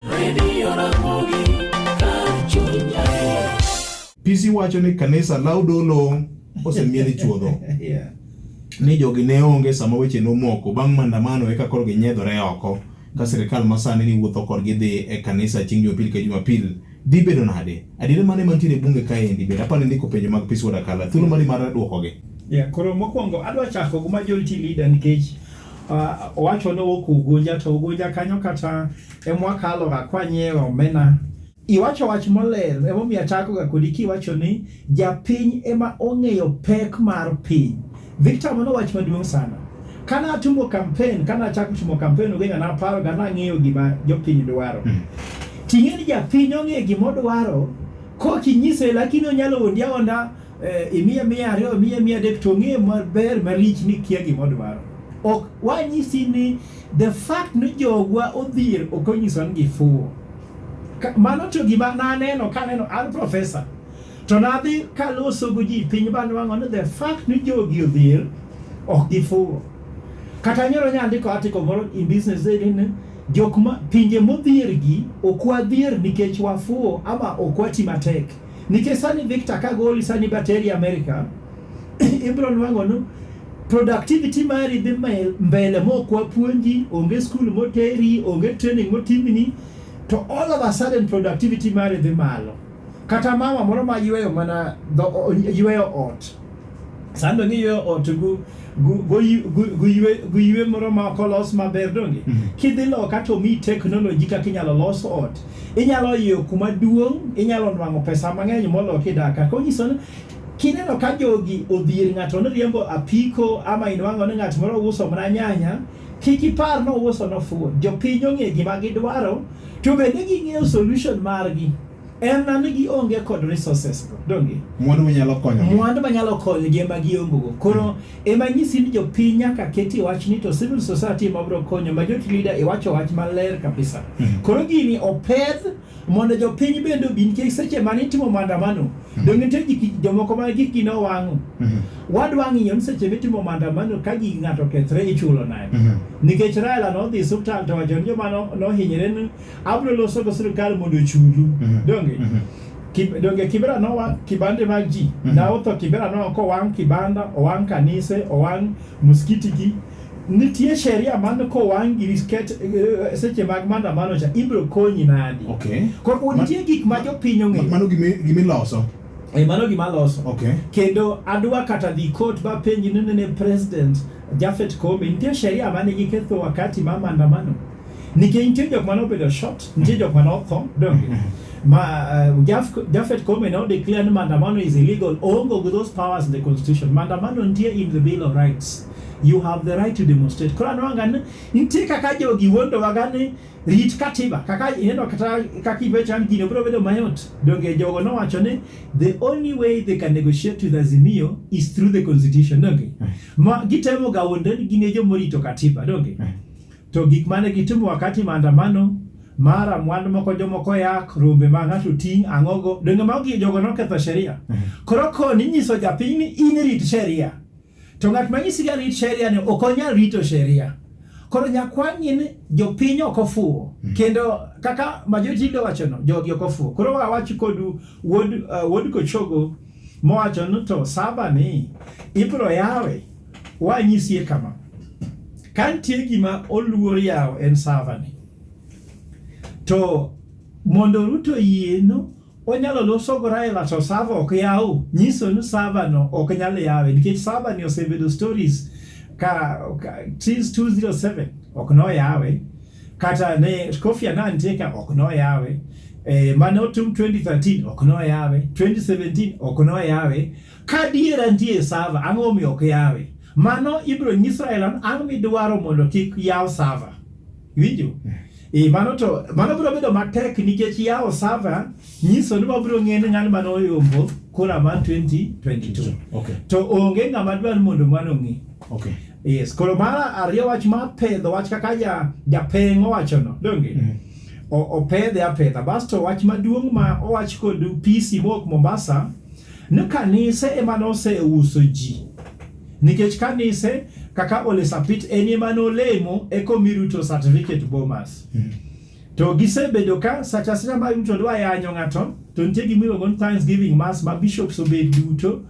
Radio Ramogi, kar chuny adier. PC wacho ni kanisa law dolo osemie ni chuodho Yeah. ni jogi ne onge sama weche nomoko bang' maandamano eka koro ginyedhore oko ka sirikal masani ni wuotho kodgi dhi e kanisa chieng' jumapil ka jumapil dhi bedo nade adiera mane mantiere e bunge kaendi bende apani ndiko penjo mag pis wadakala thuolo mari mar dwokogi Yeah, koro mokwongo adwa chako gi majority leader nikech uh, owacho ni owuok Ugunja to Ugunja kanyo kata e mwakalo ga kwanyiewe omena iwacho wach moler emomiyo achakoga kodi kiwacho ni japiny ema ong'eyo pek mar piny victor mano wach maduong' sana kane atimo kampen kane achako timo kampen ugenya naparoga nang'eyo gima jopiny dwaro hmm. ting'e ni japiny ong'eyo gima odwaro kokinyise lakini onyalo ondi aonda eh, imiya miya ariyo imiya miya adek to ong'eyo maber malich ni kia gima odwaro ok wanyisi ni The fact ni jogwa odhier ok onyiso ni gifuwo. Mano to gima naneno kaneno an professor to nadhi kaloso gi ji piny bani wang'o ni the fact ni jogi odhier ok gifuwo. Kata nyoro nyandiko article moro in business day ni jok ma pinje modhier gi ok wadhier nikech wafuwo ama ok wati matek. Nikech sani Victor kagoli sani bateri Amerika ibro nwang'o ni productivity mari dhi mbele mok wapuonji, onge skul moteri, onge training motimni, to all of a sudden productivity mari dhi malo. Kata mama moro ma yweyo mana yweyo ot sando ni yo ot gu guywe moro ma ok olos maber donge mm -hmm. kidhi loka to mi teknoloji kaka inyalo los ot inyalo iyo kuma duong' inyalo nwang'o pesa mang'eny moloki daka konyiso Kineno ka jogi odhier ng'ato ni riembo apiko ama inwang'o ni ng'at moro uso mana nyanya, kik ipar ni ouso nofuwo. Jopiny ong'e gima gidwaro to bende ging'eyo solution margi. En na ni gionge kod resources go, donge? Mwandu manyalo konyo. Mwandu manyalo konyo gi ema giongo go. Koro ema nyisi ni jopiny nyaka keti wach ni to civil society ema biro konyo, majority leader iwacho wach maler kabisa. Koro gini opedh mondo jopiny bende obi nikech seche mane itimo maandamano mhm. donge nitie jomoko ma gikgi ne owang'o mhm. wadwa ng'iyo ni seche mitimo maandamano ka gig ng'ato okethre ichulo nade mhm. nikech Raila nodhi suptal to wacho ni joma nohinyre ni abro loso go sirikal mondo ochulu donge donge kibera nowa kibande mag ji na otho kibera no kowang' kibanda owang' kanise owang' muskitigi Nitie sheria man kowang' giri sket eh, seche mag maandamano cha ibiro konyi nadi? Okay. Koro Ma- nitie gik ma jopiny Ma- ong'eyo. Mano gimi- gimiloso. Eh, Mano gima loso. Okay. Kendo adwa kata dhi court ba penji ni nene president Jafet Koome nitie sheria mane giketho wakati ma maandamano. Nikech nitie jok mane obedo shot, nitie jok mane otho, donge? Ma uh, Jaf, Jafet Koome now declare ni maandamano is illegal. Oongo with those powers in the constitution. Maandamano nitie in the bill of rights. You have the right to demonstrate. Koro anwanga ni nitie kaka jogi wuondowaga ni rit katiba kaka ineno kata kaka ibechan gino biro bedo mayot. Donge jogo nowacho ni the only way they can negotiate with Azimio is through the constitution. Donge eh. ma gitemo ga wuonde ni gin e joma orito katiba. Donge eh. to gik mane gitimo wakati maandamano mara mwandu moko jomoko yak rombe ma ng'ato ting' ang'ogo donge mago jogo noketho sheria eh. koro koni nyiso japiny ni in rit sheria To ng'at ma nyisi ga rit sheria ni ok onyal rito sheria. Koro nyakwang'ni ni jopiny ok ofuwo mm. kendo kaka majority leader wacho no jogi ok ofuwo. Koro wawachi kodu wuod uh, wuod Kochogo mowacho ni to saba ni ibro yawe wanyisie kama. Kantie gima oluor yawo en saba ni. To mondo Ruto yieno Onyalo loso Raila to sava ok yaw, nyiso ni sava no ok nyal yawe nikech sava ni osebedo stories ka, ka since 207 ok no yawe kata ne Kofi Annan teka ok no yawe eh, mane otum 2013 ok no yawe 2017 ok no yawe ka diera ndie sava ang'o mi ok yawe mano ibro nyis Raila ang'o midwaro mondo kik yaw sava Winjo? E, mano to mano biro bedo matek nikech yawo sava nyiso ni wabiro ng'eyo ni ng'ano mane oyombo kura mar 2022 okay. to onge ng'ama dwar mondo mano ng'e okay. yes koro mara ariyo wach ma pedho wach kaka ja japeng owacho no donge mm. opedhe apedha basto wach maduong' ma owach kod PC mok Mombasa ni kanise ema noseuso ji Nikech kanise kaka Ole Sapit en ema nolemo eko mi Ruto certificate Bomas. Mm. To gisebedo ka sacha sacha ma Ruto dwa yanyo ng'ato to nitie gima iluongo ni Thanksgiving Mass ma bishops obet duto.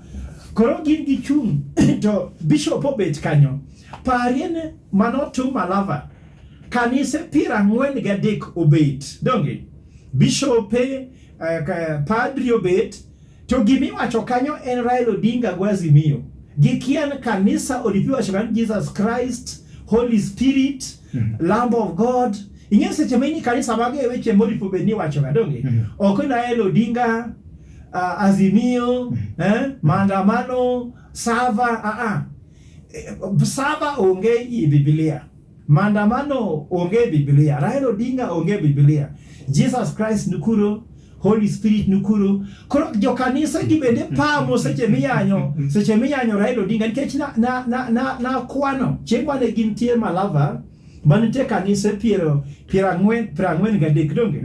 Koro gin gi chung' to bishop obet kanyo. Parie ne mano to Malava. Kanise piero ang'wen gadek obet. Donge? Bishope, uh, padri obet, To gima iwacho kanyo en Raila Odinga go Azimio. Gikia ni kanisa olipiwa shaka ni Jesus Christ, Holy Spirit, mm -hmm. Lamb of God. Ing'e seche ma in kanisa mage e weche moripo bed ni wacho gadonge. Mm -hmm. Ok ni Raila Odinga, uh, Azimio, mm -hmm. eh, maandamano, Sava, a uh a. -uh. Sava onge i Biblia. Mandamano onge Biblia, Raila Odinga onge Biblia, Jesus Christ nikuro, Holy Spirit nikuro. Koro jo kanisa gi bende pamo seche miyanyo, seche miyanyo Raila Odinga nikech na na na na, na kwano. Chieng' mane gin tie Malava, manitie kanise piero piero ang'wen piero ang'wen gadek donge.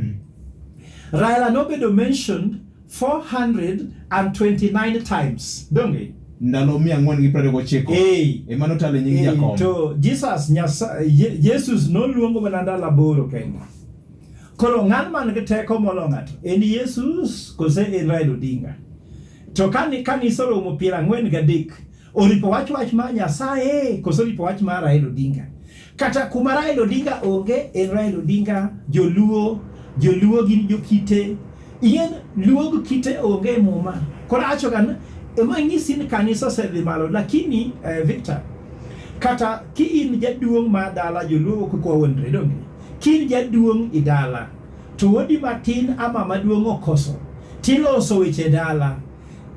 Raila nobedo mentioned 429 times. Donge ndalo mia ang'wen gi piero gochiko ema notalo e nying Jakom. To Jesus Nyasaye Jesus noluongo mana ndalo aboro kende. Koro ng'an man gi teko molo ng'ato en Jesus kose en Raila Odinga. To kani kanisa oromo piero ang'wen gadek Oripo wach wach mar Nyasaye koso oripo wach mar Raila Odinga? Kata kuma Raila Odinga onge en Raila Odinga, Joluo, Joluo gin jokite. Ien Luo gi kite onge e muma. Koro acho gan ema ng'isi ni kanisa osedhi malo lakini eh, Victor kata ki in jaduong' ma dala Joluo ok kwa wondre donge? Ki in jaduong' i dala to wodi matin ama maduong' okoso tiloso weche dala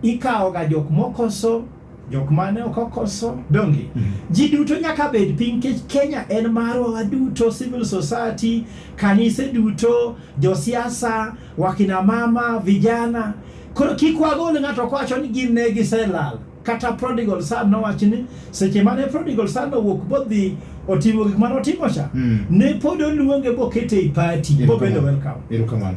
ikawo ga jok mokoso jok mane ok okoso donge mm -hmm. ji duto nyaka bed piny kech Kenya en marwa waduto civil society kanise duto josiasa wakina mama vijana koro kik wagol ng'ato kowacho ni gin ne giselal kata prodigal son nowacho ni seche mane prodigal son owuok bodhi otimo gik mane otimo cha mm. ne pod oluonge bokete i party bobedo welcome